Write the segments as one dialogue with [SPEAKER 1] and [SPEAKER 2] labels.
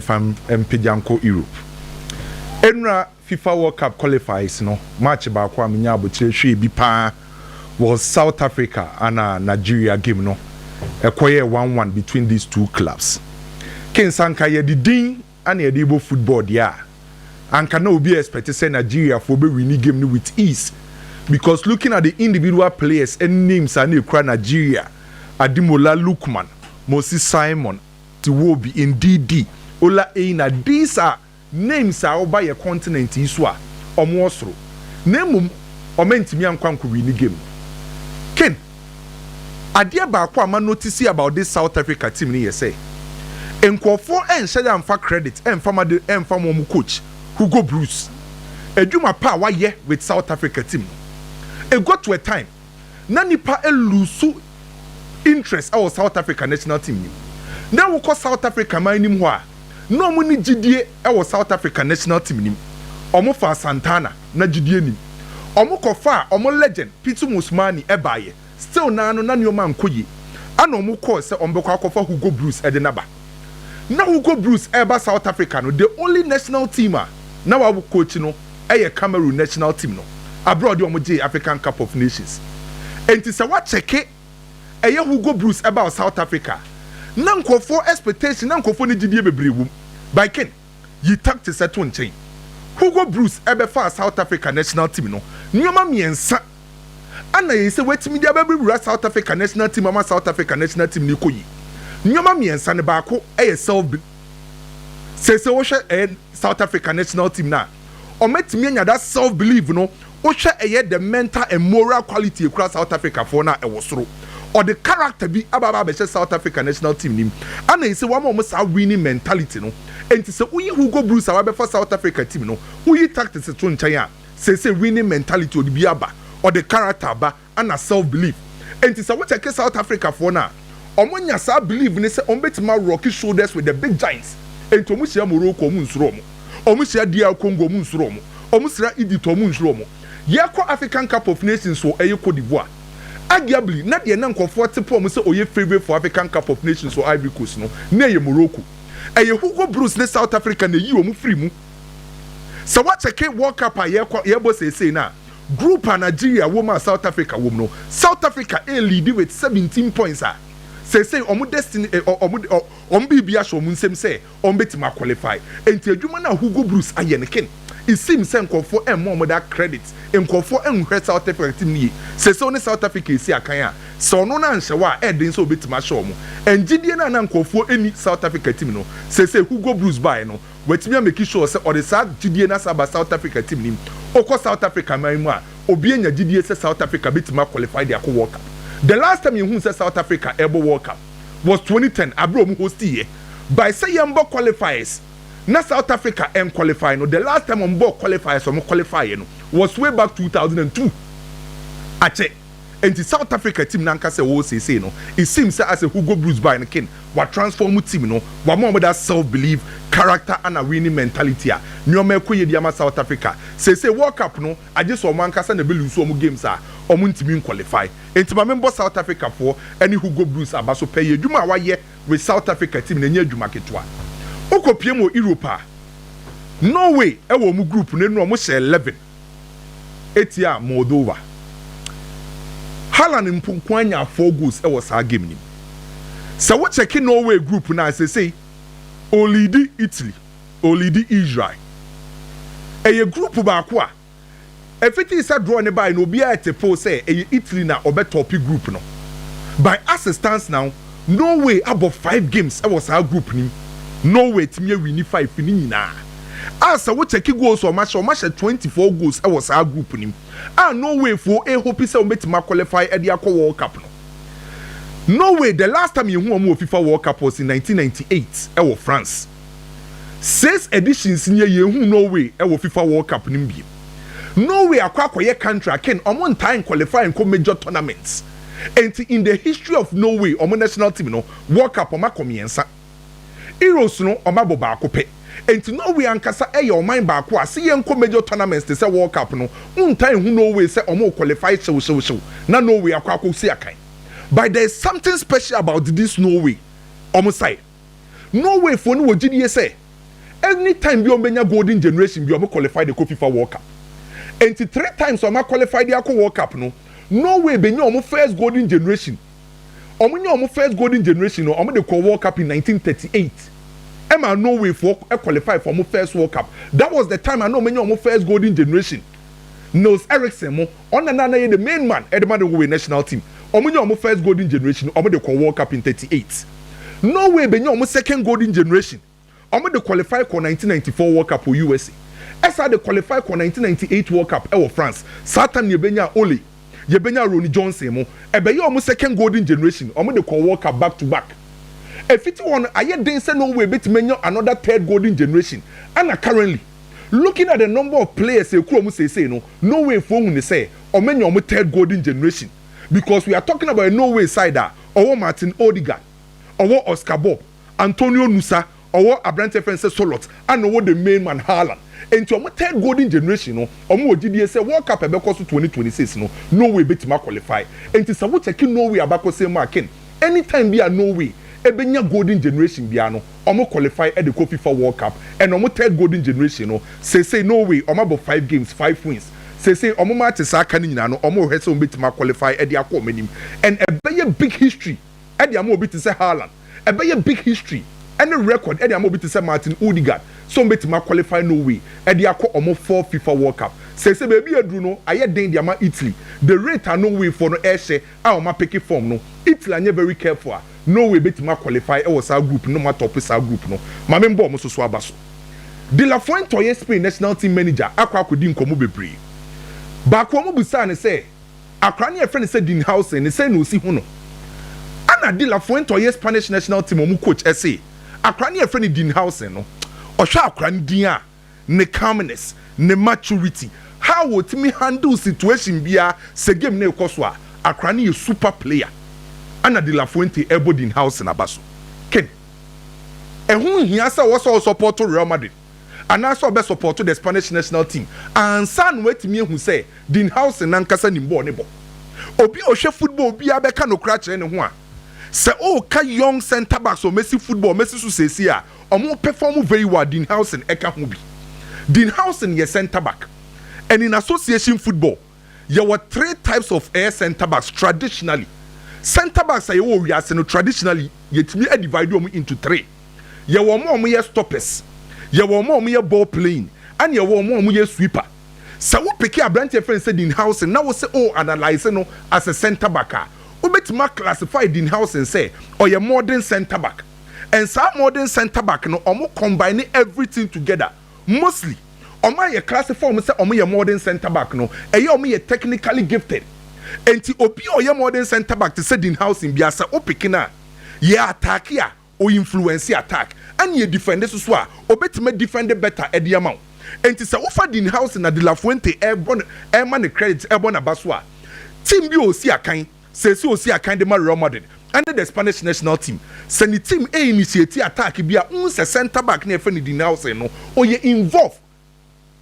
[SPEAKER 1] fa mpagya nkɔ Europe. Nnora Fifa World Cup Qualifiers no match baako a menyaa aboterɛ hwɛɛ bi paa wɔ South Africa ana Nigeria game no, ɛkɔyɛɛ one one between these two clubs. King sɛ anka yɛde din ana yɛde rebɔ football deɛ a, anka na obi expect sɛ Nigeria foɔ bɛ wini game no with ease because looking at the individual players ne names a na ɛkura Nigeria, Ademola Lookman, Moses Simon, Ti Wobi, Ndidi, Ola Eina, these are names a ɔba yɛ continent yi so a ɔmo wɔ soro na mmom ɔmo antumi ankɔ ankɔ wini game no. Ken, adeɛ baako a ma notice about this South Africa team no yɛ sɛ nkorɔfoɔ ɛnhyɛ da mfa credit ɛmfa ma de ɛmfa ma ɔmo coach Hugo Broos adwuma pa a wayɛ with South Africa team no. It got to a time. na nipa lusu interest ɛwɔ South Africa national team nim na wokɔ South Africa man nim hɔ a na ɔmo ni gyidie ɛwɔ South Africa national team nim ɔmo faa Santana na gyidie nim ɔmo kɔ faa ɔmo legend Pitso Mosimane ɛbaayɛ still naa no na neɔma ankɔ yie ɛna ɔmo kɔɔ sɛ ɔmo bɛkɔ akɔfa Hugo Bruce ɛde no aba na Hugo Bruce ɛɛba South Africa no the only national team a na wa coach no. yɛ Cameroon national team no aber a ɔde wɔn gyee African Cup of Nations. Ntsi sɛ wɔakyɛke ɛyɛ Hugo Broos ba wɔ South Africa a, na nkorɔfoɔ expectation, na nkorɔfoɔ ne gyidie beberee wɔ mu. By Ken, yi tactics to nkyɛn. Hugo Broos bɛfaa South Africa national team no nneɛma mmiɛnsa a na yɛyi sɛ watumi de abɛwura South Africa national team ama South Africa national team no rekɔ yie. Nneɛma mmiɛnsa no baako yɛ self Sɛ sɛ wohwɛ ɛyɛ South Africa national team no a, wɔatumi anya that self believe no. Wohwɛ ɛyɛ the mental and moral quality ekura South Africa foɔ no a ɛwɔ soro. Ɔde character bi aba aba abɛhyɛ South Africa national team no mu. Ɛna ɛsɛ wama wɔn saa winning mentality no. Nti sɛ woyi Hugo Broos a wabɛfa South Africa team no, woyi tactics to nkyɛn a, sɛ sɛ winning mentality ɔde bi aba, ɔde character aba. ana self belief nti sɛ wo check south Africa foɔ no a ɔmo nya saa belief no sɛ ɔmo bɛtumi a rock shoulders with the big giants nti ɔmo hyia Morocco ɔmo nsuro ɔmo ɔmo hyia DR Congo ɔmo nsuro ɔmo ɔmo sra Egypt ɔmo nsuro ɔmo yɛ kɔ African cup of nations wɔ ɛyɛ Cote d'Ivoire arguably na deɛ na nkɔfoɔ te pɔ ɔmo sɛ ɔyɛ favourite for African cup of nations wɔ Ivory Coast no na ɛyɛ Morocco ɛyɛ Hugo Broos ne south Africa na ɛyii ɔmo firi mu sɛ wo check world cup a yɛ kɔ yɛ bɔ seesei no a Group a Nigeria wom a South Africa wom no, South Africa ɛreleadi with seventeen points a seesei wɔn destiny ɛ, wɔn de, wɔn biribi ahyɛ wɔn nsam sɛ wɔn bɛtumi aqualify. Enti adwuma no a Hugo Broos ayɛ no, Ken, it seems sɛ nkurɔfoɔ ɛmmɔ wɔn daa credit, nkurɔfoɔ ɛnhwɛ South Africa team no yie. Seesei ɔne South Africa ɛresi akan a, sɛ ɔno no anhyɛ hɔ a, ɛɛden sɛ ɔbɛtumi ahyɛ wɔn. And gyidie no a na nkurɔfoɔ ɛnni South Africa team no, seesei Hugo Broos baeɛ no, Watumi a make sure sɛ ɔde saa gyidie no asan aba South Africa team no mu. Wokɔ South Africa man yi mu a, obi anya gyidie sɛ South Africa bɛtumi a qualify de akɔ World Cup. The last time yɛhuu sɛ South Africa ɛrebɔ World Cup was twenty ten aberɛ a wɔn hostiiɛ. By sɛ yɛmbɔ qualifiers na South Africa ɛn qualify no, the last time wɔn bɔɔ qualifiers a wɔn qualifieɛ no was way back two thousand and two. Akyɛ. Enti South Africa team n'ankasa a ɛwɔ hɔ seesei no, it seems sɛ asɛ Hugo Broos bae no kin, wa transform team no, wama wɔn that self believe, character ana winning mentality a nneɛma ɛkɔ yie de ama South Africa. Seesei World Cup no, agye sɛ wɔn ankasa na ɛbɛ lose wɔn games a wɔn ntumi nqualify. Enti ma menbɔ South Africa foɔ ɛne Hugo Broos aba so pɛ yi, adwuma a wayɛ with South Africa team no ɛnyɛ adwuma ketewa. Wo kɔ piem wɔ Europe a, Norway ɛwɔ wɔn group no, ɛnura wɔn hyɛ eleven. tia Moldova. Haaland mpo nkoa nyaa four goals wɔ saa game no mu. Sɛ wo kyɛke Norway group no a sesei ɔliidi Italy, ɔliidi Israel. Ɛyɛ group baako a ɛfiti sɛ draw no bae no obiara te pow sɛ ɛyɛ Italy na ɔbɛtɔpe group no by assistance now. Norway abɔ five games ɛwɔ saa group no mu, Norway atumi awini five no nyinaa a sɛ wo check goals a wɔahyɛ, wɔahyɛ twenty four goals ɛwɔ saa group no mu a Norway foɔ ɛhope sɛ wɔbɛtumi a qualify ɛde akɔ World Cup no. Norway the last time yɛhu wɔn wɔ fifa World Cup was in nineteen ninety eight ɛwɔ France, six editions nie yɛnhuu Norway ɛwɔ fifa World Cup no mu bio. Norway akɔ akɔyɛ country aken, wɔn ntaa nqualify nkɔ major tournaments. Enti in the history of Norway wɔn national team no World Cup wɔn akɔ mmiɛnsa. Euros no wɔn abɔ baako pɛ. Enti Norway ankasa yɛ ɔman baako a se yɛnkɔ major tournaments te sɛ World Cup no wontaa nhu Norway sɛ wɔn requalify hyewhyewhyew na Norway akɔ akɔsi akan. But there is something special about this Norway wɔn side. Norway foɔ no wɔ gyidie sɛ any time biara wɔbɛnya golden generation biara wɔn qualify de kɔ fifa world cup. Ɛnti three times a wɔn a qualify de akɔ world cup no Norway bɛnya wɔn first golden generation. Wɔn nya wɔn first golden generation no wɔn de kɔɔ world cup in 1938. Ɛmaa Norway foɔ qualify for wɔn first world cup. That was the time a na wɔn anya wɔn first golden generation. Nils Eriksen mo. Ɔna na na yɛ the main man ɛde ma Norway national team. Ɔmo nya ɔmo first golden generation no, ɔmo de kɔɔ World Cup in thirty eight. Norway bɛ nya ɔmo second golden generation, ɔmo de qualify kɔɔ nineteen ninety four World Cup wɔ USA. Ɛsaa de qualify kɔɔ nineteen ninety eight World Cup ɛwɔ France. Saa tam no yɛ bɛ nyaa Ole, yɛ bɛ nyaa Ronny Johnson mo. Ɛbɛ yɛ ɔmo second golden generation, ɔmo de kɔɔ World Cup back to back. Ɛfiti hɔ no, ayɛ den sɛ Norway bɛtumi anya another third golden generation, ɛna currently. Looking at the number of players ekura ɔmo seesei no, Norway foɔ hu no sɛ ɔmo anya ɔmo third golden generation because we are talking about a Norway side a ɔwɔ Martin Odegaard, ɔwɔ Oscar Bobb, Antonio Nusa, ɔwɔ abranteɛ yɛfrɛ no sɛ Sørloth ɛna ɔwɔ the main man Haaland. Enti ɔmo third golden generation no ɔmo wɔ gyidie sɛ World Cup a ɛbɛkɔ so twenty twenty six no Norway bɛtumi a qualify. Enti sɛ wo check Norway abakɔsɛm mu a Ken, Any time bi a Norway bɛnya golden generation biara no, wɔn qualify de kɔ fifa world cup, and wɔn third golden generation no, seesei Norway wɔn abɔ five games, five wins, seesei wɔn matches a aka no nyinaa no, wɔn rehwɛ sɛ wɔn bɛtumi a qualify de akɔ wɔn anim, and ɛbɛyɛ big history de ama obi te sɛ Haaland, ɛbɛyɛ big history ne record de ama obi te sɛ Martin Odegaard, sɛ wɔn bɛtumi a qualify Norway de akɔ wɔn fourth fifa world cup. Seesei baabi a aduru no, ayɛ den de ama Italy, the rate a Norway foɔ no rehyɛ a wɔn apeke fɔm no, Italy anyɛ very careful a, Norway betumi a qualify wɔ saa group no na wɔn atɔpe saa group no. Ma me mbɔ wɔn nso so aba so. De la Fuente a ɔyɛ Spain national team manager akɔ akɔdi nkɔmmɔ bebree. Baako a wɔbisaa no sɛ, Akwadaa no a yɛfrɛ no sɛ Dean Howson no, sɛn na osi hu no? Ɛna de la Fuente a ɔyɛ Spanish national team wɔn coach se, Akwadaa no a yɛfrɛ no Dean Howson no, ɔhwɛ akwadaa no din a, ne calmness, ne maturity, how otumi handle situation biara sɛ game no rekɔ so a, akora no yɛ super player. Ana de la Fuente ɛrebɔ Dean Howson aba so. Ken, ɛho nhia sɛ ɔwɔ sɛ ɔ support Real Madrid anaasɛ ɔbɛ support the Spanish national team ansa na watumi ahu sɛ Dean Howson nankasa nim bɔɔl no bɔ. Obi a ɔhwɛ football biara bɛka nokora akyerɛ ne ho a, sɛ ɔreka young centre backs a wɔasi football wɔasi so seesei a, Wɔpɛfɔɔmo very well Dean Howson ɛka ho bi. Dean Howson yɛ centre back and in association football yɛwɔ three types of ɛyɛ centre backs traditionally centre backs a yɛwɔ wɔ wiase no traditionally yɛtumi adivide wɔn into three yɛwɔ wɔn a wɔyɛ stoppers yɛwɔ wɔn a wɔyɛ ball playing ɛna yɛwɔ wɔn a wɔyɛ sweeper sɛ wo peke aberanteɛ yɛfrɛ no sɛ Dean Howson na wose o analyse no as a centre back a wobɛtumi a classify Dean Howson sɛ ɔyɛ modern centre back. and saa modern centre back no ɔmo combine everything together mostly ɔmo a yɛ classify ɔmo sɛ ɔmo yɛ modern centre back no ɛyɛ ɔmo yɛ technically gifted nti obi a ɔyɛ modern centre back te sɛ Dean Howson bia sɛ wo pick no a yɛ attack a o influence attack ɛna yɛ defend so so a obetumi a defend better ɛde ama wo nti sɛ wofa Dean Howson na De La Fuente ɛbɔ no ɛma no credit ɛbɔ n'aba so a team bi a osi akan Seesei osi akan de ma Real Madrid ne the Spanish national team. Sɛ ne team initiate attack bi a, wohu sɛ centre back no a yɛfrɛ no Dinausen no, ɔyɛ involve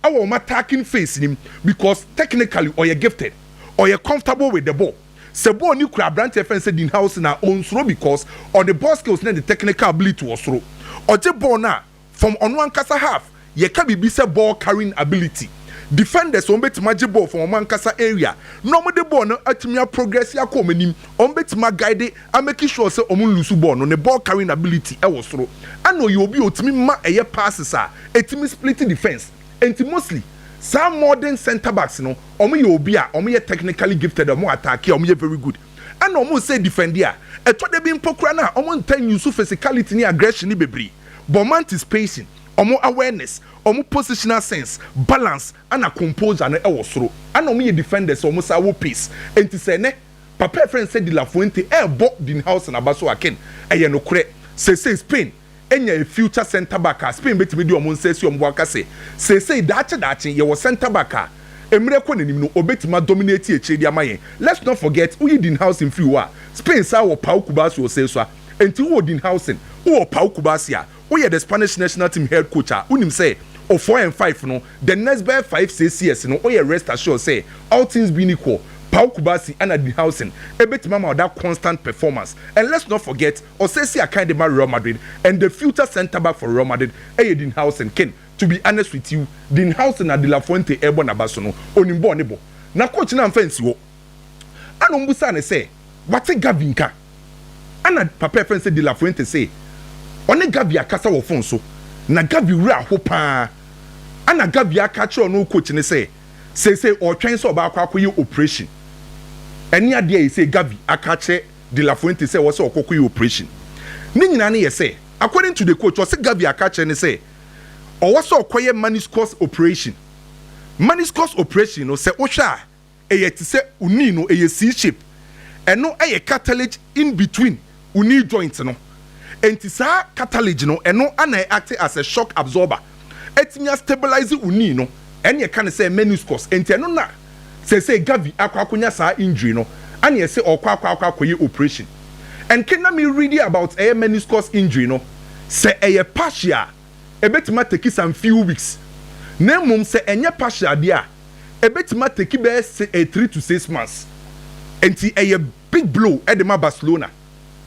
[SPEAKER 1] wɔ wɔn attacking phase no mu because technically ɔyɛ gifted, ɔyɛ comfortable with the ball. Sɛ ball no kura aberante a yɛfrɛ no sɛ Dinhausen a, ɔnsuro because ɔde ball skills ne ne technical ability wɔ soro. Ɔgye ball no a, from ɔno ankasa half, yɛka biribi sɛ ball carrying ability, defenders wɔn bɛtumi agye ball from wɔn ankasa area na wɔn de ball no atumi a progress akɔ wɔn anim, wɔn bɛtumi a guide a make sure sɛ wɔn nlusu ball no, ne ball carrying ability wɔ soro ɛna ɔyɛ obi a ɔtumi ma ɛyɛ passes a ɛtumi split defense nti mostly saa modern centre backs no wɔn yɛ obi a wɔn yɛ technically gifted a wɔn attack a wɔn yɛ very good ɛna wɔn sɛ defend a ɛtɔ da bi mpo koraa no a wɔn ntaa nuse physicality ne aggression no bebree. bɔ ɔmo anticipation, ɔmo awareness, ɔmo positional sense, balance ɛna composure no wɔ soro. Ɛna ɔmo yɛ defenders a ɔmo san wɔ pace. Enti sɛ ɛnɛ papa a yɛfrɛ no sɛ De La Fuente ɛɛbɔ Dean Howson aba so a, Ken, ɛyɛ nokorɛ. Seesei Spain anya a future centre back a Spain bɛtumi de ɔmo nsa asi ɔmo bo aka sɛ seesei daakye daakye yɛwɔ centre back a mmerɛ kɔ n'anim no ɔbɛtumi a dominate akyire de ama yɛn. Let's not forget woyi Dean Howson firi hɔ a, Spain san wɔ Pau Cubarsio Sessua, Enti wowɔ Dean Howson, wowɔ Pau Kubasi a woyɛ the Spanish national team head coach a wonim sɛ o four and five no the next bɛyɛ five six years no woyɛ rest assured sɛ all things being equal Pau Kubasi ɛna Dean Howson ɛbɛtumi ama wo that constant performance and let's not forget ɔsɛsi akan de ma Real Madrid and the future centre back for Real Madrid ɛyɛ Dean Howson Ken to be honest with you Dean Howson a De La Fuente ɛrebɔ n'aba so no onim bɔɔl ne bɔ na coach no amfa ansi hɔ. Ɛna wɔbisaa no sɛ, Wate Gavi nka? Ɛna papa a yɛfrɛ no sɛ De La Fuente se, Ɔne Gavi akasa wɔ fon so, na Gavi werɛ aho pa ara. Ɛna Gavi aka akyerɛ ɔno coach no sɛ, seesei ɔretwɛn sɛ ɔbɛakɔ akɔyɛ operation. Ɛne adeɛ a seesei Gavi aka akyerɛ De La Fuente sɛ ɛwɔ sɛ ɔkɔkɔyɛ operation. Ne nyinaa no yɛ sɛ, according to the coach, ɔse Gavi aka akyerɛ no sɛ, ɔwɔ sɛ ɔkɔyɛ meniscus operation. Meniscus operation no, sɛ wohwɛ a, ɛyɛ te sɛ wo knee no, ɛyɛ C-shape. Ɛno yɛ cartilage in between wo knee joint no. Enti saa cartilage no, ɛno na ɛ acte as a shock absorber. Atumi a stabilise wo knee no. Ɛne yɛka no sɛ meniscus. Enti ɛno na seesei Gavi akɔ akɔnya saa injury no, ɛne ɛse ɔɔkɔ akɔ akɔ akɔyɛ operation. Ɛnke na me read about ɛyɛ meniscus injury no, sɛ ɛyɛ partial a, ebetumi ateki some few weeks, na mmom sɛ ɛnyɛ partial deɛ a, ebetumi ateki bɛyɛ se three to six months. Enti ɛyɛ big blow de ma Barcelona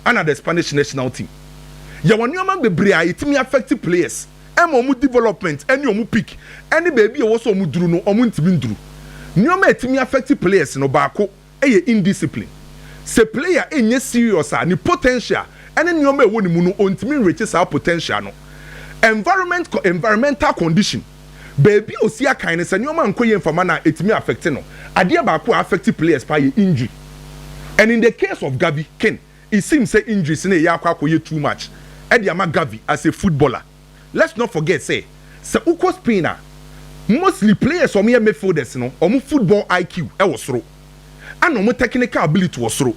[SPEAKER 1] ɛna the Spanish national team. Yɛwɔ nneɛma bebree a etumi affect players ɛma wɔn development ɛne wɔn peak ɛne baabi a ɛwɔ sɛ wɔduru no wɔntumi nduru. Nneɛma a etumi affect players no baako yɛ indiscipline. Sɛ player nyɛ serious a, ne potential ne nneɛma a ɛwɔ ne mu no, ontumi nreache saa potential no. Environment kɔ environmental condition, baabi a osi akan no, sɛ nneɛma nkɔ yie mfama no a, etumi affect no. Adeɛ baako a affect players paa yɛ injury. And in the case of Gavi, Ken, it seems sɛ injuries no reyɛ akɔ akɔyɛ too much de ama Gavi as a footballer. Let's not forget sɛ, sɛ wokɔ Spain a, mostly players a wɔyɛ midfielders no, wɔn football IQ wɔ soro, ɛna wɔn technical ability wɔ soro.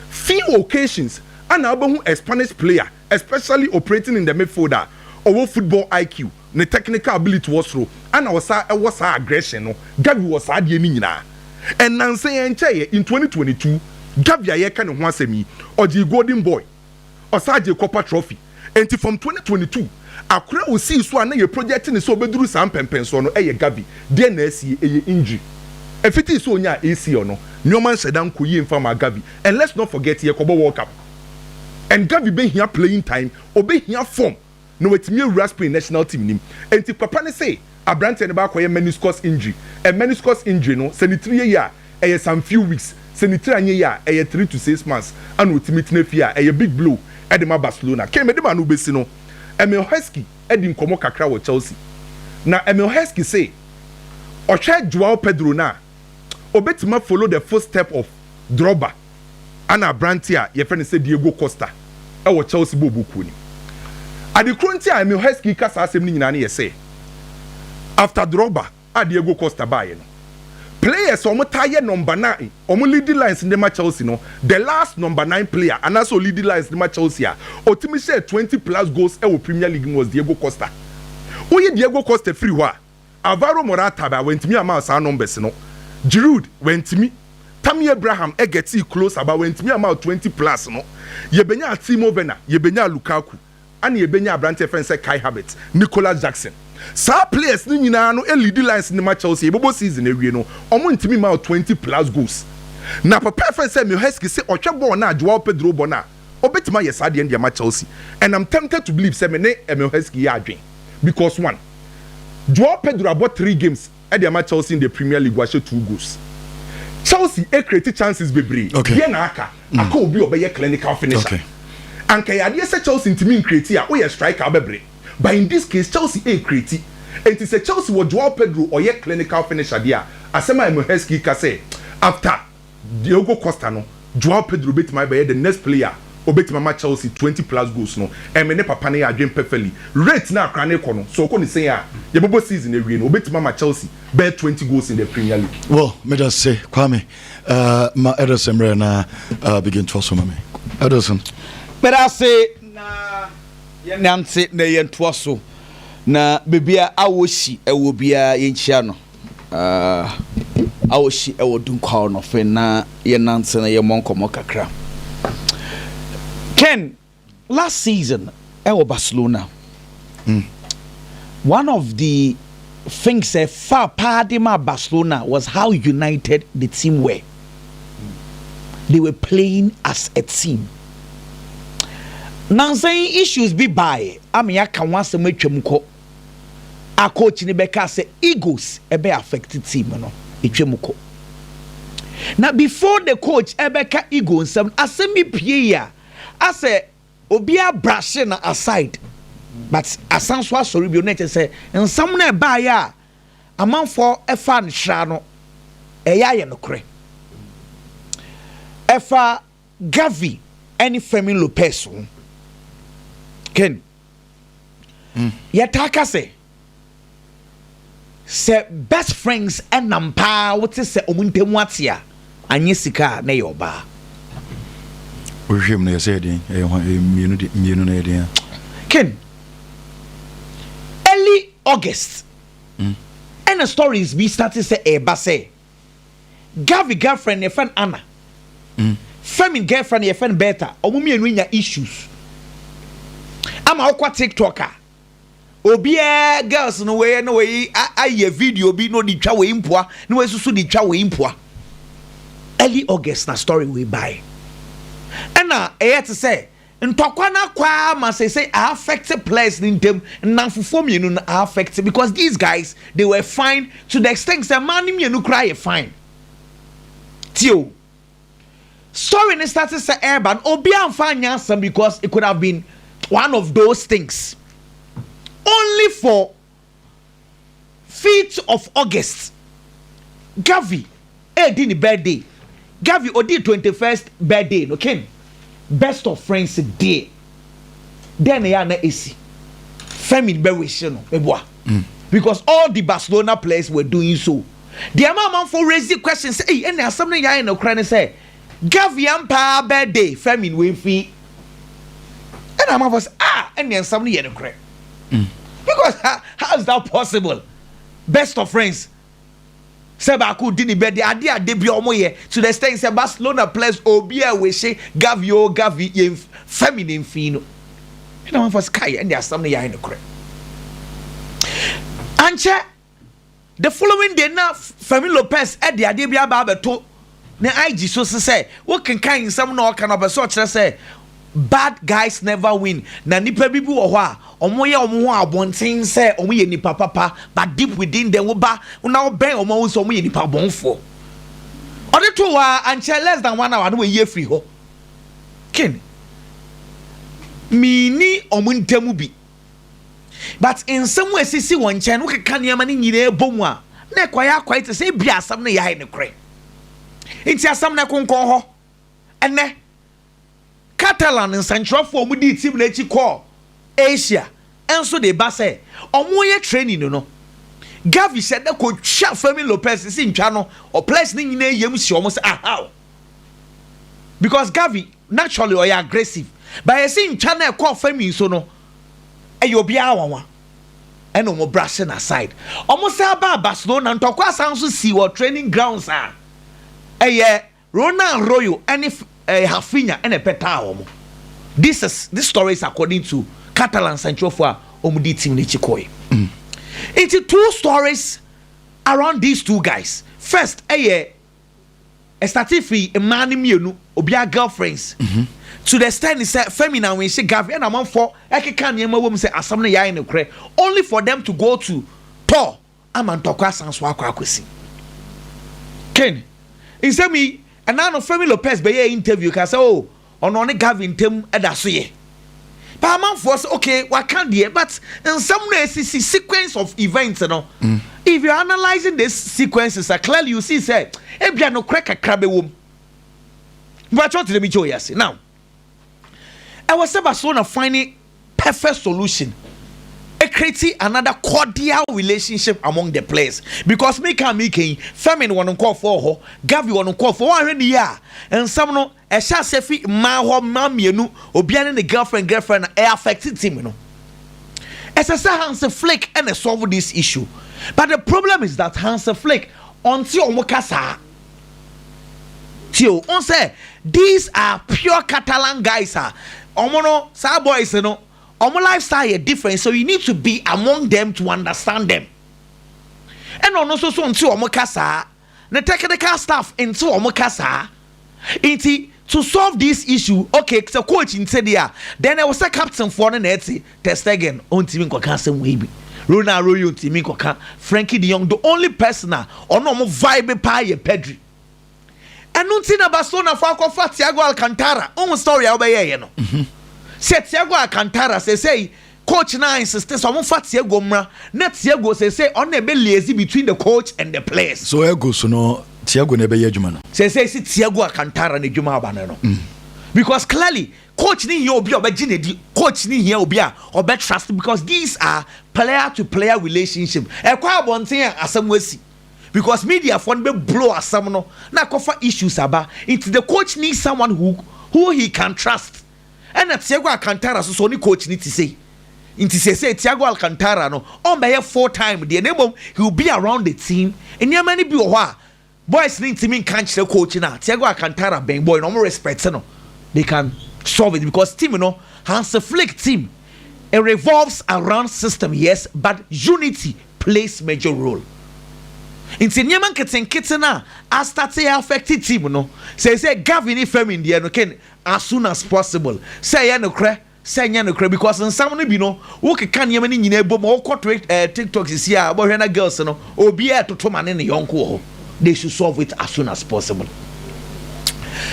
[SPEAKER 1] Few occasions ɛna wobɛhu a Spanish player, especially operating in the midfield a, ɔwɔ football IQ, ne technical ability wɔ soro, ɛna ɔsan wɔ saa aggression no. Gavi wɔ saa adeɛ no nyinaa. Nnansa yi, ɛnkyɛeɛ, in twenty twenty two, Gavi a yɛreka ne ho asɛm yi, ɔgyee Golden Boy. ɔsan gyee copper trophy. Enti from twenty twenty two, akora a osii so a na yɛ project no sɛ obeduru saa mpɛnpɛnsoɔ no yɛ Gavi. Deɛn na asie? Ɛyɛ injury. Ɛfiti sɛ onyaa ACL no, nneɛma nhyɛ da nkɔ yie mfa mmaa Gavi. And let's not forget yɛrekɔbɔ World Cup. And Gavi bɛhia playing time, obehia form. na watumi awura Spain national team no mu. Enti papa no se aberanteɛ no bɛakɔyɛ meniscus injury. Ɛ meniscus injury no, sɛ ne tiri yɛ yie a, ɛyɛ some few weeks. Sɛ ne tiri anyɛ yie a, ɛyɛ three to six months na ɔtumi tena fie a, ɛyɛ big blow de ma Barcelona. Kane, mede m'ano bɛsi no, Emile Heskey adi nkɔmmɔ kakra wɔ Chelsea, na Emile Heskey se ɔhwɛ Joao Pedro no a, obetumi afolo the foot step of Drogba ana aberante a yɛfrɛ no sɛ Diego Costa wɔ Chelsea bɔɔlbɔ kuo no mu. Ade koro nti a Emile Heskey ka saa asɛm no nyinaa no yɛ sɛ, after Drogba a Diego Costa baeɛ no, players a wɔtaa yɛ number nine, wɔn lead lines no de ma Chelsea no, the last number nine player anaasɛ ɔlead lines de ma Chelsea a ɔtumi hyɛɛ twenty plus goals wɔ Premier League mu was Diego Costa. Woyi Diego Costa firi hɔ a, Alvaro Morata ba, wantumi amma saa numbers no, Giroud, wantumi, Tammy Abraham, e getting closer, ba wantumi amma twenty plus no, yɛbɛnyaa Timo Werner, yɛbɛnyaa Lukaku, ɛna yɛbɛnyaa aberanteɛ yɛfrɛ no sɛ Kai Havertz, Nicholas Jackson, saa players no nyinaa no leadi lines no ma Chelsea, yɛbɛbɔ season awie no, wɔn ntumi mmaa twenty plus goals, na papa yɛfrɛ no sɛ Miheski se ɔhwɛ bɔɔl no a Joao Pedro bɔ no a, Obetumi ayɛ saa deɛn de ama Chelsea and I'm tempted to believe sɛ me ne Emile Heskey yɛ adwen because one, Joao Pedro abɔ three games de ama Chelsea in the Premier League wahyɛ two goals. Chelsea ɛcreate chances bebree deɛn na aka? Aka obi a ɔbɛyɛ clinical finisher. Anka ɛyɛ adeɛ sɛ Chelsea ntumi ncreate a woyɛ striker a wobɛbre but in this case Chelsea ɛcreate nti sɛ Chelsea wɔ Joao Pedro ɔyɛ clinical finisher deɛ a asɛm a Emile Heskey ka sɛ after Diogo Costa no, Joao Pedro betumi abɛyɛ the next player a obetumi ama Chelsea twenty plus goals no. Ɛme ne papa no yɛ adwene pɛfɛli. Rate no a Accra no rekɔ no, sɛ ɔkɔ ne sɛn a, yɛbɛbɔ season awie no, obetumi ama Chelsea bɛyɛ twenty goals in the Premier League. Well, meda se, Kwame.
[SPEAKER 2] Uh, ma Ederson mmerɛ na uh, begin to so ma me. Ederson. Meda ase
[SPEAKER 3] na yɛnante na yɛntoa so na bebia awosi ɛwɔ biara yɛnkyia no. a wɔhyi wɔ Dunkwaw no afei na yɛnante na yɛmmɔ nkɔmmɔ kakra. Ken, last season ɛwɔ Barcelona, mm. one of the things that far Padima Barcelona was how united the team were. They were playing as a team. Nansan issues bi bae ama yɛaka ho asɛm atwam kɔ a coach no bɛka sɛ egos ɛbɛ affect team no ɛtwa mu kɔ na before the coach ɛbɛka ego nsɛm no asɛm bi pie yi a asɛ obi abrashe na aside but asan so asɔre bio na ɛkyɛ sɛ nsɛm no ɛbaeɛ a amanfoɔ ɛfa nhyira no ɛyɛ ayɛ nokorɛ ɛfa Gavi ne Fermin Lopez ho. Ken, mm. yɛtaa ka sɛ sɛ best friends nam paa wote sɛ ɔmo ntam ate a anyɛ sika a na ɛyɛ ɔbaa
[SPEAKER 2] wohwehwɛ mu no yɛsɛ yɛden ɛyɛ hɔ mmienu de mmienu no yɛden a ken
[SPEAKER 3] early august mm. ɛna stories bi starte sɛ ɛreba sɛ Garvey girlfriend no yɛfrɛ no Anna. Mm. Femin girlfriend no yɛfrɛ no Berta. Ɔmo mmienu anya issues. Ama wokɔ TikTok a, obiara girls no wei na wei ayɛ video bi na ɔde twa wei mpoa na wei susu de twa wei mpoa. Early August na story wei bae. Ɛna ɛyɛ te sɛ Ntɔkwa no akɔ ara ma seesei a affect players no ntam, nnamfofoɔ mmienu no a affect because these guys they were fine to the extent sɛ mmaa no mmienu koraa yɛ fine. Tie o, story no starte sɛ ɛreba no obiara mfa anyɛ asɛm because it could have been one of those things only for Fifth of August Garvey redi ne birthday Garvey odii twenty first birthday no Ken best of friends deɛ dɛn na yɛ a na esi Femi bɛ wish no meboa mm. because all the Barcelona players were doing so deɛ ama amanfo raise the question sɛ eyi ɛna asɛm no yɛ ayɛ no kora ne sɛ Garvey ampaa birthday Femi wei fi ɛna amanfo sɛ ah ɛna nsɛm no yɛ no korɛ. Mm. Because how, how is that possible? Best of friends. Sɛ baako di ne bɛde ade a de bi ɔmo yɛ to the extent sɛ Barcelona players obi a wɔhyɛ Gavi o Gavi yɛn fɛmi ne mfin no. Ɛna wɔn fɔ sika yɛ ɛna asɛm no yɛ ayɛ no korɛ. Ankyɛ The following day na Fermin Lopez de adeɛ bi aba abɛto ne IG so se sɛ wokenkan nsɛm na ɔka no ɔpɛ sɛ ɔkyerɛ sɛ bad guys never win na nnipa bi bi wɔ hɔ a wɔyɛ wɔn ho abɔnten sɛ wɔyɛ nnipa papa but deep within them woba na wobɛn wɔn a wohu sɛ wɔyɛ nnipa bɔnfoɔ. Ɔde too hɔ a ankyɛ less than one hour na wayi afiri hɔ. Ken, menni wɔn ntam bi. but nsɛm a ɛsisi wɔn nkyɛn no wokeka nneɛma no nyinaa bɔ mu a na ɛkɔyɛ akɔyɛ te sɛ ebia asɛm no yɛayɛ nokorɛ nti asɛm no ɛkonkɔn hɔ ɛnɛ Catalan nsɛnkyerɛfoɔ wɔn dii tim no akyi kɔɔ Asia nso de ba sɛ wɔyɛ training no no Gavi hyɛ dɛ kɔtwa Fermin Lopez sisi ntwa no ɔplayers no nyinaa yam si wɔn sɛ ahaw because Gavi Naturally ɔyɛ aggressive but yɛse ntwa no a ɛkɔɔ fam yi so no ɛyɛ obiara nwanwa ɛna wɔn brush no aside. Wɔn san baa Barcelona ntɔkwa san nso sii wɔ training grounds a ɛyɛ Ronald Arroyo ɛne ɛɛ Raphinha ɛna ɛpɛtaa wɔn. This is this story is according to Catalan nsɛnkyerɛfoɔ a wɔn di team no akyi kɔɛ. Nti two stories around these two guys first ɛyɛ. Ɛstartee firi mmaa no mmienu obiara girlfriends to the extent sɛ Femi na Anwenhye Garvey ɛna amanfoɔ ɛkeka nneɛma wɔ mu sɛ asɛm no yɛayɛ nokorɛ only for them to go to tɔ ama ntɔkwa asan so akɔ akɔsi. Ken, nsɛm yi ɛna ano Femi Lopez bɛyɛɛ interview kaa sɛ oh Ɔno ɔne Gavin ntam da so yɛ paa amanfoɔ sɛ ok waka deɛ but nsɛm no a ɛsisi sequence of events no if you're analysing this sequences a clearly you see sɛ ebia nokorɛ kakra bɛwom mpakyɛw tena mi kyɛ ɔyɛ ase now ɛwɔ sɛ Barcelona finding perfect solution creating another cordial relationship among the players because me can me can Femin wɔn nkɔɔfoɔ hɔ Gavi wɔn nkɔɔfoɔ wɔn ahwɛ ne yie a nsɛm no Ɛhyɛ aseɛ fi mmaa hɔ mmaa mmienu obia ne ne girlfriend girlfriend na ɛ affect team no ɛsɛ sɛ Hansi Flick ɛna solve this issue but the problem is that Hansi Flick ɔnte ɔmo ka saa tio on sɛ these are pure Catalan guys a ɔmo no saa boys no ɔmo lifestyle yɛ different so you need to be among them to understand them ɛna ɔno nso so nte ɔmo ka saa. Ne technical staff nte wɔn kasa nti to solve this issue ok sɛ coach nte deɛ a then ɛwɔ sɛ captain foɔ no na ɛte ter stegen ɔntumi nkɔka asɛm wei bi Ronald Arroyo ntumi nkɔka Frenkie de Jong the only person a ɔne wɔn vibe paa yɛ Pedri ɛno nti na Barcelona foɔ akɔfa Thiago Alcantara wohu story a wobɛyɛɛyɛ no sɛ Thiago Alcantara sɛsɛi Coach no insiste sɛ wɔmfa Thiago mmra na Thiago seesei ɔno na ɛbɛ liaise between the coach and the players. So Egos no
[SPEAKER 2] Thiago na ɛbɛyɛ adwuma no? Seesei se Thiago
[SPEAKER 3] Alcantara na adwuma aba no no because clearly coach no hia obi a ɔbɛgye n'adi, coach no hia obi a ɔbɛ trust because these are player to player relationship. Ɛkɔ abɔnten a asɛm asi because media foɔ no bɛ blow asɛm no na akɔfa issues aba nti the coach needs someone who who he can trust. Ɛna Thiago Alcantara nso sɛ ɔne coach no te sei. Nti seesei Thiago Alcantara no ɔmmɛyɛ full time deɛ na mmom he will be around the team. Nneɛma no bi wɔ hɔ a boys no ntumi nka nkyerɛ coach no a Thiago Alcantara bɛn boy no wɔn respect no they can solve it because team no Hansi Flick team it revolves around system yes but unity plays major role. Nti nneɛma nketenkete no a astate affect team no seesei Gavi ne Fermin deɛ no ken as soon as possible sɛ ɛyɛ nokorɛ sɛ ɛnyɛ nokorɛ because nsɛm no bi no wo keka nneɛma no nyinaa bom wo kɔ twit ɛɛ tiktok sisi a wobɛhwɛ na girls no obiara ɛtoto ma ne ne yɔnko wɔ hɔ they should solve it as soon as possible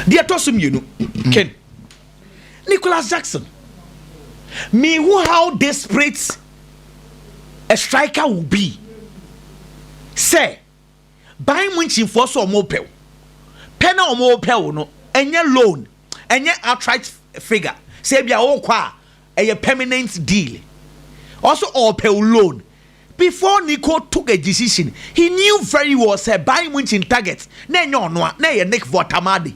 [SPEAKER 3] deɛ ɛtɔ so mmienu ken Nicholas Jackson me who how desperate a striker will be sɛ Bayern Munchen foɔ sɛ wɔn pɛ wo. Pɛ na wɔn pɛ wo no, ɛnyɛ loan, ɛnyɛ outright figure. Sɛ ebi a wɔkɔ a, ɛyɛ permanent deal. Ɔsɛ ɔpɛ wo loan. Before Nico took a decision, he knew very well sɛ Bayern Munchen target na ɛnyɛ ɔno a, na ɛyɛ Nick Vortamade.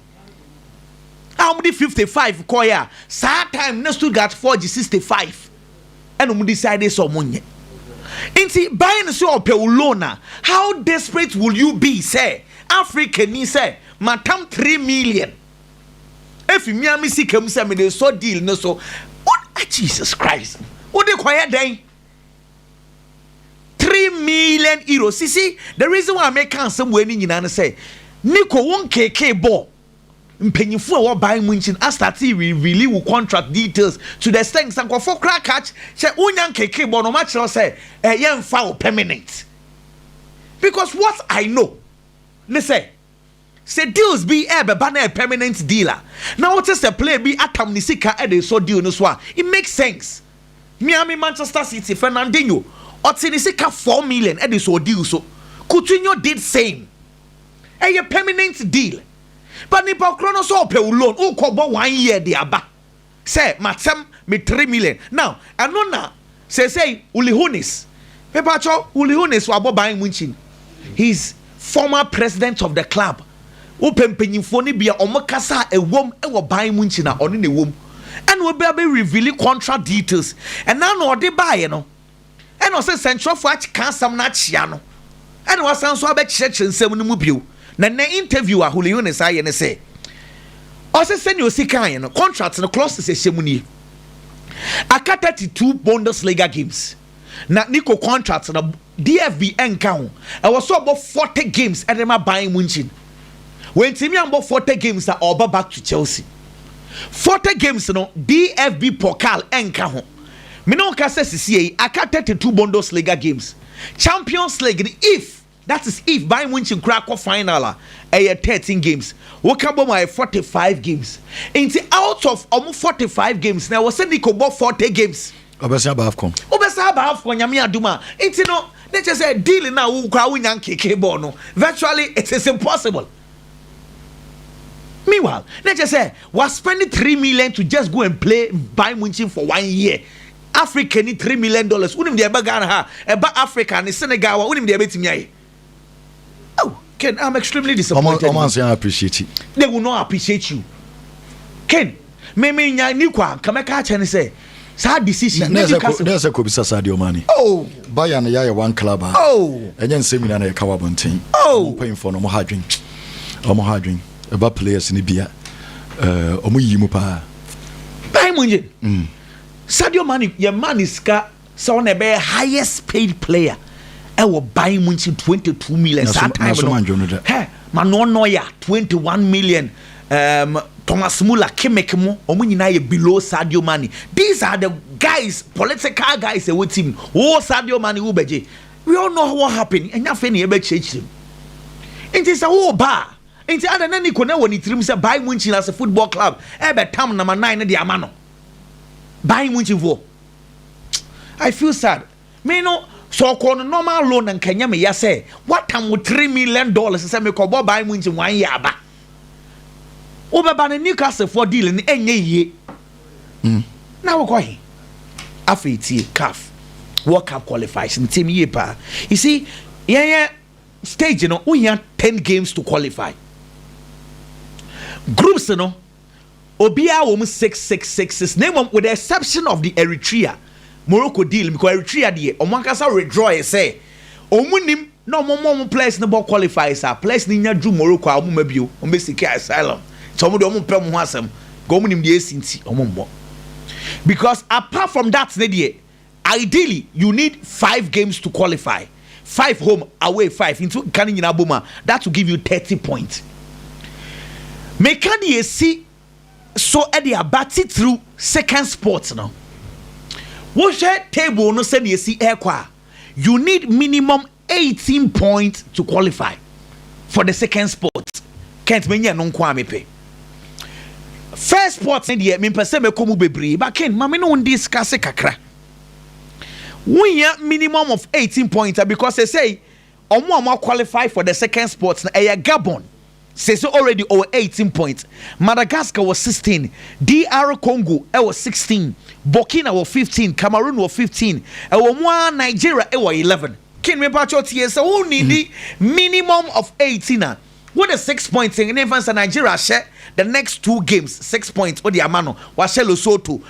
[SPEAKER 3] A wɔn de 55 kɔɛ a, saa time na Stuttgart foɔ gye 65. ɛna ɔmo decide sɛ ɔmo nyɛ nti bae no sɛ ɔpɛ wo loan a how desperate will you be sɛ Africa ni sɛ matam 3 million efi mia me sika mu sɛ mede sɔ deal no so what ah, Jesus Christ wode kɔyɛ dɛn three million euro sisi the reason why meka asɛm wei ne nyinaa ne sɛ Nico wo nkekee bɔɔ mpanyinfo a ɛwɔ ban mu nkyen astate reveale wo contract details to the extent sɛ nkorɔfoɔ koraa ka kyɛ wonya nkeke bɔ na ɔmo akyerɛ wo sɛ eh yɛn nfa wo permanent because what I know ne sɛ sɛ deals bi ɛɛbɛba na ɛyɛ permanent deal a na wote sɛ player bi atam ne sika ɛde resɔ deal no so a it makes sense me ara me Manchester City Fernandinho ɔte ne sika four million ɛde sɔɔ deal so Coutinho did same ɛyɛ permanent deal but nipa korɔ no sɛ ɔpɛ wo loan wokɔ bɔ one year de aba sɛ matsɛm me three million now ɛno na sɛsɛi ulihunis mepakyɛ ulihunis wabɔ ban mu nkyin he's former president of the club wopɛ mpanyinfoɔ no bia ɔmo kasa a ɛwom ɛwɔ ban mu nkyin a ɔno na ɛwom ɛna ɔbɛ abɛ reveal contract details ɛna na ɔde baeɛ no Ɛnna ɔsɛ nsɛnkyerɛwfo akye ka asɛm no akyea no, ɛnna wɔasan nso abɛkyerɛkyerɛ nsɛm no mu bio. Na nnɛ interview a Julio Yunes ayɛ ne sɛ, ɔsɛ sɛnea osi kae no, contract no clauses a ɛhyɛ mu nie, Aka 32 Bundesliga games, na Nico contract no DFB nka ho, ɛwɔ sɛ ɔbɔ 40 games de ma Bayern Munchen. Wantumi ambɔ 40 games a ɔreba back to Chelsea. 40 games no DFB Pokal nka ho. Me ne wo ka sɛ sesiei aka thirty two Bundesliga games, Champions League no if, that is if Bayern Munchen koraa kɔ final a, ɛyɛ thirteen games. Woka bom a ɛyɛ forty five games. Nti out of ɔmo forty five games no ɛwɔ sɛ Nico bɔ forty games. Ɔbɛsan aba Afcon.
[SPEAKER 2] Wobɛsan aba Afcon Nyame
[SPEAKER 3] adom a. Nti no, na kyerɛ sɛ deal no a wo koraa wonya nkeke bɔɔ no, virtually it is impossible. Meanwhile, na kyerɛ sɛ wa spend three million to just go and play Bayern Munchen for one year. Africa ni three million dollars. Wonim deɛ ɛba Ghana ha, ɛba Africa ne Senegal wa, wonim deɛ ɛbɛtumi ayɛ. Oh, Ken, I'm extremely disappointed. Ɔmo anso appreciate.
[SPEAKER 2] They will not appreciate
[SPEAKER 3] you. Ken, Me me nya ni kwa nka mɛka akyɛ ne sɛ saa decision ne di kasa. Ne sɛ kɔbisa
[SPEAKER 2] saa deɛ ɔmane. Oh. Bayern
[SPEAKER 3] yɛ ayɛ one
[SPEAKER 2] club a. Oh. Ɛnyɛ nsɛm
[SPEAKER 3] nyina na yɛka
[SPEAKER 2] wɔ abɔnten. Oh. Ɔmo mpanyinfoɔ no ɔmo
[SPEAKER 3] ha adwen.
[SPEAKER 2] Ɔmo ha adwen. Ɛba players ne bia. Ɔmo yiyi mu paa. Bayern
[SPEAKER 3] Munchen. Mm. Sadio Mane yɛ ma ne sika Sɛ wo na ɛbɛyɛ highest paid player ɛwɔ ban mu nti twenty two million saa time no hɛ Manuel Neuer twenty one million um, Thomas Muller Kimmich mu wɔn nyinaa yɛ below Sadio Mane these are the guys political guys ɛwɔ team wo Sadio Mane wo bɛgye we all know what happened ɛnyɛ afei na yɛbɛkyerɛkyerɛ mu nti sɛ wo ba a nti ada na Nico na wɔ ne tirim sɛ ban mu nkyina sɛ football club ɛbɛtam nama nan no de ama no ban mu nkyinfoɔ I feel sad me no sɛ ɔkɔ no normal loan na nka nya me ya sɛ wata mo three million dollars sɛ mekɔ bɔ ban mu nti wɔn yɛ aba wobɛba no Newcastle foɔ deal no ɛnyɛ yie mm. na wokɔ he afei tie caf World Cup qualifiers ne team yie paa you see yɛnyɛ stage no wohia ten games to qualify groups no obiara wɔ mu six six six six na mmom with the exception of the Eritrea Morocco deal because Eritrea deɛ wɔn ankasa withdraw yɛ sɛ wɔn nim na wɔn ma wɔn players no bɔ qualifies a players no nya duru Morocco a wɔn ma bio wɔn bɛ siki asylum nti wɔn deɛ wɔn mpɛ wɔn ho asɛm because wɔn nim deɛ esi nti wɔn mmɔ because apart from that ne deɛ. Ideally you need five games to qualify, five home, away five nti woka ne nyinaa bom a that will give you thirty point. Meka deɛ ɛsi so de aba titiriw second spot no. Wohwɛ table no sɛdeɛ ɛsi rekɔ a, you need minimum eighteen point to qualify for the second spot kent menya ɛno nko a mepɛ first spot ne deɛ mempɛ sɛ mɛkɔ mu bebree ba ken ma me ne wo ndi sika se kakra wohia minimum of eighteen point a because sɛsɛi ɔmo a mo qualify for the second spot na ɛyɛ gabon Sese already ɔwɔ eighteen points, Madagascar wɔ sixteen, DR Congo wɔ sixteen, Burkina wɔ fifteen, Cameroon wɔ fifteen, ɛwɔ mu ara Nigeria wɔ eleven. King mepakyɛw tie sɛ wo needi minimum of eighteen a wode six points ne mfa nsa Nigeria ahyɛ the next two games six points wode ama no wahyɛ Lesotho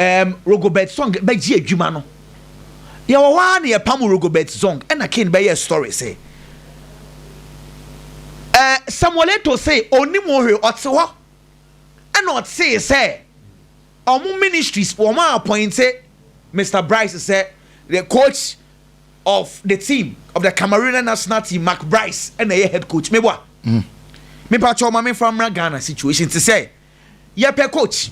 [SPEAKER 3] um, Rogobert Zong bɛgye adwuma no. Yɛwɔ hɔ ara na yɛpam Rogobert Zong, ɛna Kane bɛyɛɛ story sɛ, uh, Samuel Eto'o se ɔnnim ho hwee, ɔte hɔ ɛna ɔtee sɛ wɔn ministries wɔn a appointe Mr. Bryce sɛ the coach of the team of the Cameroonian national team Mark Bryce ɛna ɛyɛ head coach meboa. Mm. Mepa kyɛw ma memfa mmra Ghana situation te sɛ Yɛpɛ coach.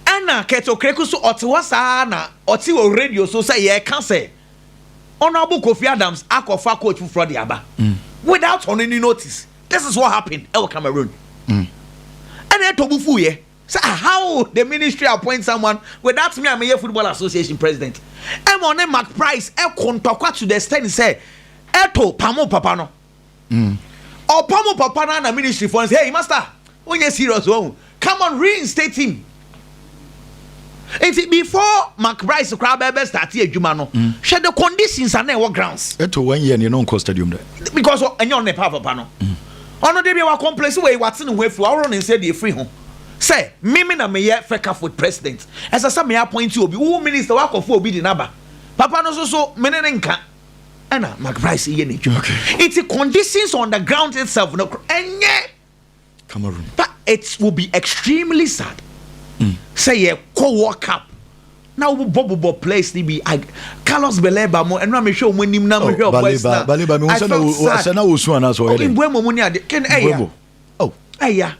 [SPEAKER 3] Ɛna Kurt Okraku so ɔte hɔ saa ara na ɔte wɔ radio so sɛ yɛreka sɛ Honourable Kofi Adams akɔfa coach foforɔ de aba mm. without ɔno ni notice. This is what happened ɛwɔ Cameroon. Mm. Ɛna ɛtɔ bu fu yɛ sɛ ah, how the ministry appoint someone without me a meyɛ football association president. Ɛma ɔne Mark Price ɛko ntɔkwa to the extent sɛ ɛto pamo papa no. Mm. Ọpa mo papa no na ministry fo no sɛ hey master wonyɛ serious wɔn come on reinstate him. Nti before Mark Bryce koraa bɛbɛ start adwuma no mm. hwɛ the conditions a na ɛwɔ grounds. Ɛto wɔn yɛ ne no nkɔ
[SPEAKER 2] stadium dɛ. Because ɛnyɛ ɔno na
[SPEAKER 3] ɛpa papa no. Mm. Ɔno de bi wa complace wɔ yi wa te ne ho afiri wa ɔwɔ ne nsa de afiri ho sɛ mímí na meyɛ fɛkafo president ɛsɛ sɛ meyɛ appointee obi wo minister wakɔfo obi di n'aba papa no soso mene ne nka ɛna McBryde yɛ n'adwuma nti conditions on the ground itself no ɛnyɛ Cameroon
[SPEAKER 2] but it
[SPEAKER 3] will be extremely sad mm. sɛ yɛkɔ World Cup na wobɔ bobɔ players ni bi Carlos Baleba mo ɛno a mehwɛ wɔn anim na oh, mehwɛ wɔn boys na I felt sad
[SPEAKER 2] ɔsɛ na wɔsu anaasɛ ɔyɛ dɛ ɔkè mbɔɛ mɔmu ni ade kɛn
[SPEAKER 3] ɛyɛ. Oh, ɛya.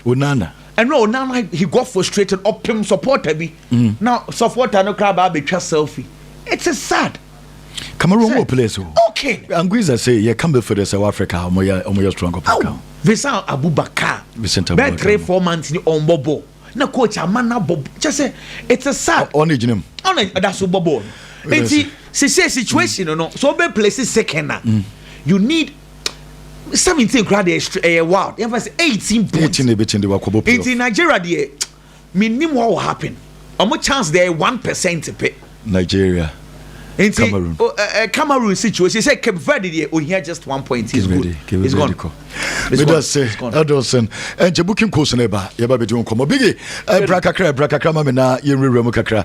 [SPEAKER 3] Onana.
[SPEAKER 2] Ɛno a Onana
[SPEAKER 3] he got frustrated ɔpem supporter bi. Mm. Na supporter no koraa baa betwa selfie. It is sad. Cameroon wɔ
[SPEAKER 2] players o. Okay. Anguiza
[SPEAKER 3] sɛ yɛ ka
[SPEAKER 2] midfield sɛ wɔ Africa ɔmo yɛ ɔmo yɛ strong papa kan. Vincent Abubakar.
[SPEAKER 3] Vincent Abubakar. Bɛɛ three
[SPEAKER 2] four months ni ɔn
[SPEAKER 3] bɔ bɔ. Na coach ama na bɔ kyɛ sɛ it is sad. Ɔn egyina mu. Ɔn
[SPEAKER 2] ɛda so bɔ bɔ.
[SPEAKER 3] Eti sise situation no so bɛ place second na. Mm. You need seventeen kura deɛ ɛstre ɛyɛ wild yɛn fɛ sɛ eighteen points eighteen na ebi kyen de wakɔ bɔ playoff nti nigeria deɛ mi nim what will happen ɔmo chance deɛ one percent pɛ. nigeria
[SPEAKER 2] nti cameroon o ɛ ɛ cameroon
[SPEAKER 3] situation sɛ cape verde deɛ ohia just one point is good is gone is gone is gone.
[SPEAKER 2] ɛdɔsɛn ɛnkyɛ booking course na ɛba yɛba bɛ di nkɔmɔ bigi ɛbra kakra ɛbra kakra ma mi na yɛn wura mu kakra.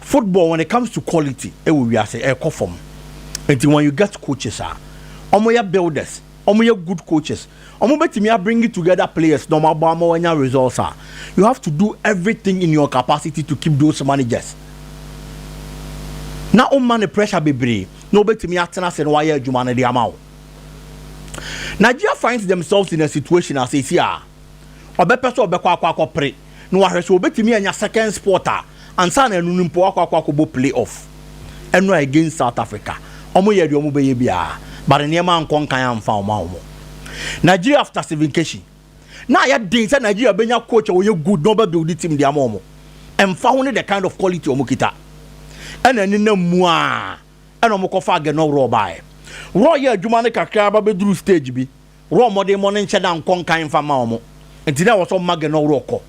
[SPEAKER 4] football when it comes to quality ɛwɔ wiase ɛkɔ fam nti when you get coaches a wɔn yɛ builders wɔn yɛ good coaches wɔn bɛtumi a bring together players na wɔn abɔ ama wɔn anya results a you have to do everything in your capacity to keep those managers na wɔn ma ne pressure bebree na wɔbɛtumi atena ase na wɔayɛ adwuma no de ama wo Nigeria finds themselves in a situation as esi a ɔbɛpɛ sɛ ɔbɛkɔ akɔ akɔpere na wahwɛ sɛ obetumi anya second spot a ansa na ɛno no mpo wakɔ akɔ akɔbɔ play off ɛno a against South Africa wɔn yɛ deɛ wɔn bɛyɛ biara but nneɛma ankɔ nkan amfa wɔn a wɔn Nigeria after Stephen Keshi na ayɛ den sɛ Nigeria bɛnya coach a ɔyɛ good na ɔbɛ build team de ama wɔn ɛmfa ho ne the kind of quality wɔn kita ɛna ɛne na mu a ɛna wɔn kɔfa agɛnɔ worɔ baeɛ worɔ yɛ adwuma no kakra aba bɛduru stage bi Wura ɔmmɔdenmɔ no nkyɛ na nkɔ nkan mfa mma wɔn, enti na ɛwɔ sɛ ɔma Gen. Ɔwura kɔ.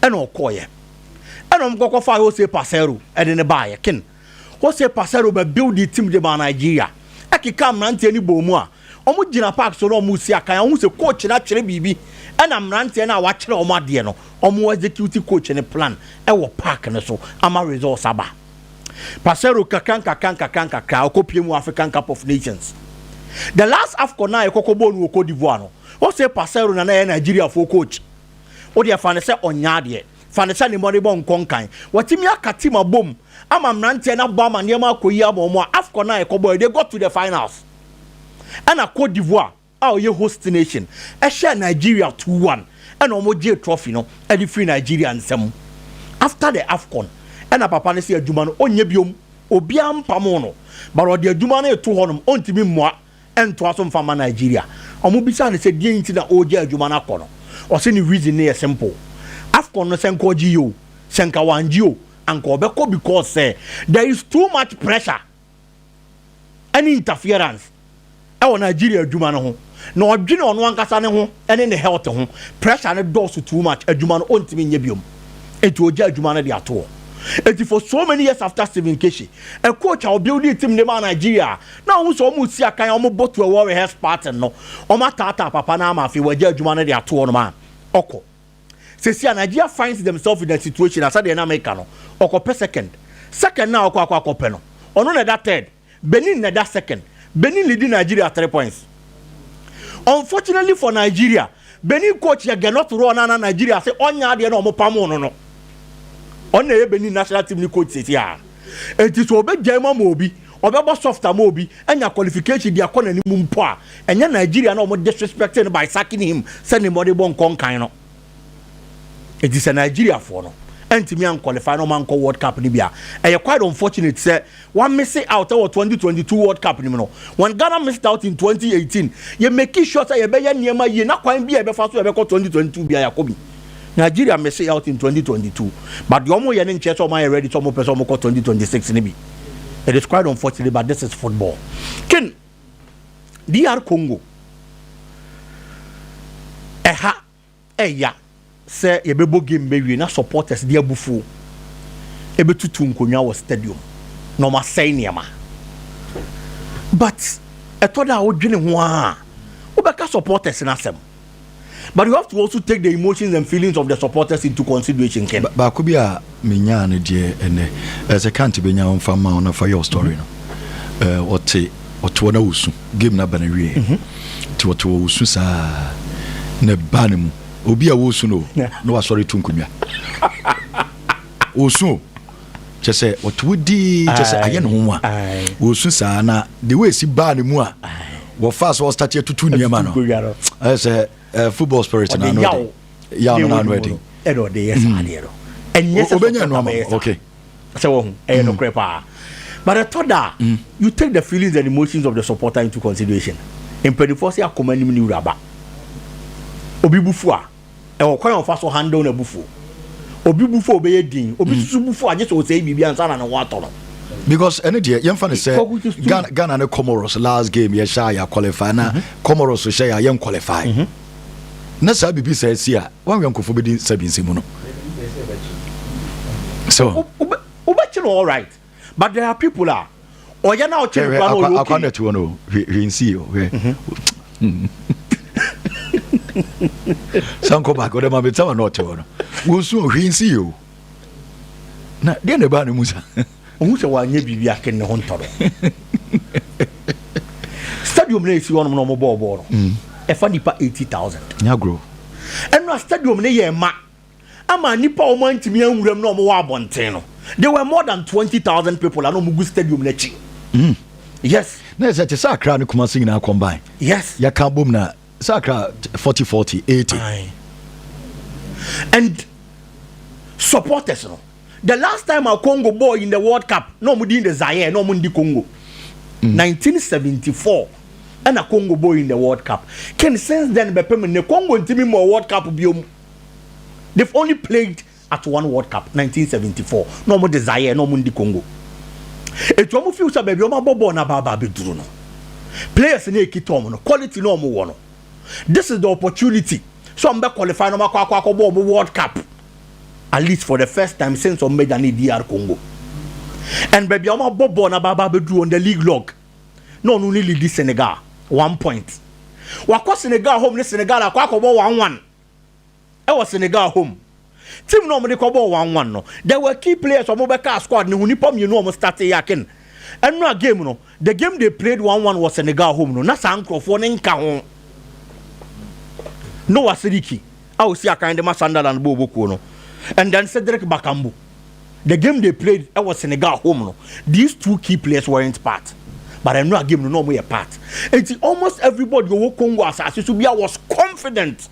[SPEAKER 4] Ɛnna ɔkɔeɛ. Ɛnna wɔkɔ kɔfaa Jose Parceiro de no baeɛ. Ken. Jose Parceiro ba building team de maa Nigeria. Ɛkekaa mmeranteɛ no bɔɔ mu a, wɔgyina park so na wɔresi akan a, wohu sɛ coach no atwerɛ biribi, ɛnna mmeranteɛ no a wɔakyerɛ wɔn adeɛ no, wɔexecute coach no plan wɔ park no so ama results aba. Parceiro nkakrankakra nkakrankakra ɔkɔ pie mu African Cup of Nations. The last AFCON a yɛkɔkɔ bɔɔ no wɔ Cote d'Ivoire no, wo se Parceiro na na ɛyɛ Nigeriafoɔ coach. Wo deɛ fa no sɛ ɔnyɛ adeɛ, fa no sɛ ne mmɔdebɔ nkɔ nkan. Watumi aka team abom ama mmeranteɛ no abɔ amanneɛ ma akɔyi ama wɔn a AFCON a yɛkɔbɔeɛ, they got to the finals. Ɛna Cote d'Ivoire. a ɔyɛ host nation hyɛɛ Nigeria two one ɛna wɔn gyee trophy no ɛde firi Nigeria nsa mu after the Afcon ɛna papa no sɛ adwuma no ɔnyɛ biom obiara mpamo no but ɔde adwuma no eto hɔ nom ɔntumi mmoa ɛntoa so mfa mma Nigeria wɔn bisa no sɛ deɛn nti na ɔregya adwuma no akɔ no ɔsɛ ne reason no yɛ simple Afcon no sɛ nka ɔgye yɛ o sɛ nka wangye o anka ɔbɛkɔ because sɛ there is too much pressure ne interference wɔ Nigeria adwuma no ho na ɔdwene ɔno ankasa ne ho ne ne health ho pressure no dɔɔso too much adwuma no ɔntumi nyɛ biom eti ɔgya adwuma no de ato hɔ eti for so many years after Stephen Keshi a coach a ɔbuildi team de maa Nigeria na ɔmo sɛ ɔmo si akan ɔmo bɔ to ɛwɔ rehearse party no ɔmo ataataa papa no ama afei wɔagya adwuma no de ato hɔ nom a ɔkɔ Sɛsi a Nigeria finds themselves in a situation a sɛdeɛ na meka no, ɔkɔpɛ second. Second no a ɔkɔ akɔ akɔpɛ no, ɔno na ɛda third. Benin na ɛda second. Benin leadi Nigeria three points. Unfortunately for Nigeria, Benin coach yɛ Gernot Rohr no a na Nigeria ase ɔnyɛ adeɛ na wɔpamoo no no. Ɔno na ɛyɛ Benin national team no coach sɛsi a. Enti sɛ ɔbɛgyae mu ama obi Ɔbɛbɔ soft ama obi anya qualification de akɔ n'anim mpo a, ɛnyɛ Nigeria na wɔn disrespecting no by sacking him sɛ nea wɔde bɔ nkɔ nkan no. Enti sɛ Nigeriafoɔ no antumi anqualify na wɔn ankɔ World Cup no bi a, ɛyɛ quite unfortunate sɛ wɔamese out wɔ 2022 World Cup no mu no when Ghana missed out in 2018. Yɛ make sure sɛ yɛbɛyɛ nneɛma yie na kwan bi a yɛbɛfa so a yɛbɛkɔ 2022 biara yɛakɔ bi. Nigeria mese out in 2022 but deɛ wɔyɛ no nkyerɛ sɛ wɔayɛ ready sɛ wɔpɛ sɛ wɔkɔ 2026 no bi. It is quite unfortunate, but this is football. Ken, DR Congo, ɛha ɛya sɛ yɛbɛbɔ game bɛwie na supporters de abufuo ɛbɛtutu nkonnwa wɔ stadium na wɔasɛe nneɛma but ɛtɔ da a wodwene ho a wobɛka supporters no asɛm But you have to also take the emotions and feelings of the supporters into consideration, Ken. Ba baako bi a
[SPEAKER 2] menyaa no deɛ ɛnɛ ɛsɛ kante bɛnya wo mfa ma wo na fa yɛ wo story no mhm. ɔte ɔte hɔ na wosu game no aba no wieɛ mhm. nti ɔte hɔ wosu saa na ɛba no mu obi a wosu no na wasɔre to nkonnwa wosu o kyɛ sɛ ɔte wo dii kyɛ sɛ ayɛ ne ho nwa wɔsu saa na de wɔasi baa ne mu a wɔfaa sɛ ɔstate atutu nneɛma no ɛyɛ sɛ eh, football spirit no ano ɛden yaw no ano ɛden ɛna ɔde yɛ saa
[SPEAKER 4] adeɛ no ɛnyɛ sɛ ɔbɛnya no ama
[SPEAKER 2] okay sɛ wɔn
[SPEAKER 4] ɛyɛ mm. nokorɛ paa but ɛtɔ da mm. you take the feelings and emotions of the supporter into consideration mpanimfoɔ sɛ akoma anim ne wuraba obi bufu a Ɛwɔ kwan a wɔfa so handle n'abufuo. Obi bu fɔ a ɔbɛyɛ dinn. Obi nso so bu fɔ a gye sɛ ɔsɛe biribi ansa na ne ho atɔ no.
[SPEAKER 2] Because ɛne deɛ yɛmfa no sɛ Kwaku just do Ghana, Ghana ne Comoros last game yɛhyɛ a yɛ qualify na Comoros hyɛ yɛ a yɛn qualify. Na saa biribi saa asi a wɔn awɛnkofo bɛdi nsa bi nsɛm mu no. So. Wo- wobɛ- Wobɛkye no
[SPEAKER 4] alright. but there are people a ɔyɛ na ɔtwe nkura na ɔyɛ okay. akwa na ɛte hɔ no
[SPEAKER 2] hwɛ hwɛ nsi o hwɛ. sanko baako dɛ maame tɛwa na ɔte hɔ no wosu o hwɛ nsi o na deɛ na ɛbaa ne mu sa. ohun sɛ wanyɛ
[SPEAKER 4] biribi ake ne ho ntɔrɔ stadium na esi hɔnom na wɔn bɔɔl bɔɔl no ɛfa nipa eighty thousand. nyagoro.
[SPEAKER 2] ɛnu a
[SPEAKER 4] stadium ne yɛ ɛma. ama nnipa a wɔantumi anwura mu na wɔwɔ abɔnten no there were more than twenty thousand people a na wɔgu stadium no akyi. Mm. yes. na ɛsɛ te sɛ
[SPEAKER 2] akra ne kumase nyinaa combine. yes. yɛka bom
[SPEAKER 4] na
[SPEAKER 2] sɛ akra forty forty eighty.
[SPEAKER 4] and supporters no the last time a congo ball in the world cup na wɔn di the zaire na wɔn ndi congo. Mm. nineteen seventy four ɛna congo ball in the world cup ken since then bɛpem ne congo ntumi mɔ world cup biom. they've only played at one world cup 1974 na wɔn de zaire na wɔn ndi congo etu wɔn fi sɛ baabi wɔn abɔ bɔɔl na baaba abɛduru no players na ekita wɔn no quality na wɔn wɔ no this is the opportunity so wɔn bɛ qualify na wɔn akɔ akɔ akɔ bɔ wɔn world cup at least for the first time since wɔn bɛ dane dr congo and baabi wɔn abɔ bɔɔl na baaba abɛduru on the league log na wɔn ne lidi senegal one point wakɔ senegal home ne senegal akɔ akɔ bɔ one one. ɛwɔ Senegal home team no a wɔde kɔbɔɔ one one no there were key players wɔn bɛkaa squad no ho nipa mmienu a wɔn starte yɛ aken ɛno a game no the game they played one one wɔ Senegal home no na saa nkurɔfoɔ no nka ho Noah Sidiki a osi akan de ma Sunderland bɔɔ bokuo no and then Cedric Bakambu The game they played ɛwɔ Senegal home no, these two key players weren't part. But I know a game no na wɔn yɛ part. Eti almost everybody ɔwɔ Congo asase so bia was confident.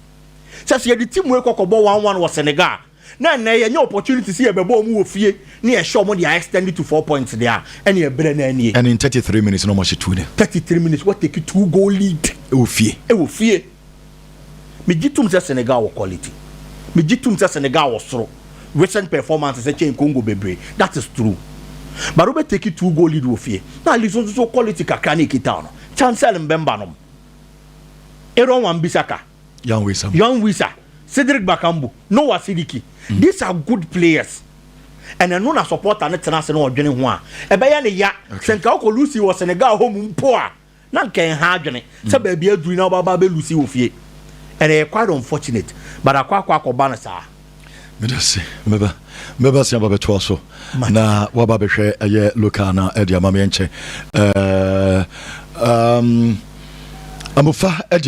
[SPEAKER 4] Sɛ sɛ yɛde team wei kɔkɔbɔ one one wɔ Senegal na ɛnna yɛ nyɛ opportunity sɛ yɛbɛbɔ wɔn wɔ fie ne yɛhyɛ wɔn de a extend to four points de a ɛne ɛbrɛ na ɛnie. And in thirty
[SPEAKER 2] three minutes na wɔn ahyɛ two ne. Thirty three minutes wɔ
[SPEAKER 4] take two goal lead. Ɛwɔ fie. Ɛwɔ fie. Megye tom sɛ Senegal wɔ quality. Megye tom sɛ Senegal wɔ soro. Recent performances ɛkyɛn Congo bebree. That is true. But wobɛ take two goal lead wɔ fie na at least wo nso so quality kakra na ɛkita wo no. Chancel Mbemba nom. Aaron Wan-Bissaka. Yan Wissa. Yan
[SPEAKER 2] Wissa.
[SPEAKER 4] Cedric Bakambu. Noah Sidiki. Mm. These are good players. And ɛno na supporter no tena ase na ɔdwene ho a ɛbɛyɛ ne ya. Okay. Sɛ nka wokɔ Lucy wɔ Senegal hɔ mu mpo a Na nka ɛnha adwene sɛ baabi aduru na wobɛba abɛlusi wɔ fie. And ɛyɛ quite unfortunate, but akɔ akɔ akɔba no saa. Meda se.
[SPEAKER 2] Mɛba mɛba se aba bɛtoa so na waba bɛhwɛ ɛyɛ local na ɛde ama me ɛnkyɛ. Ɛɛ um, Amufa ɛde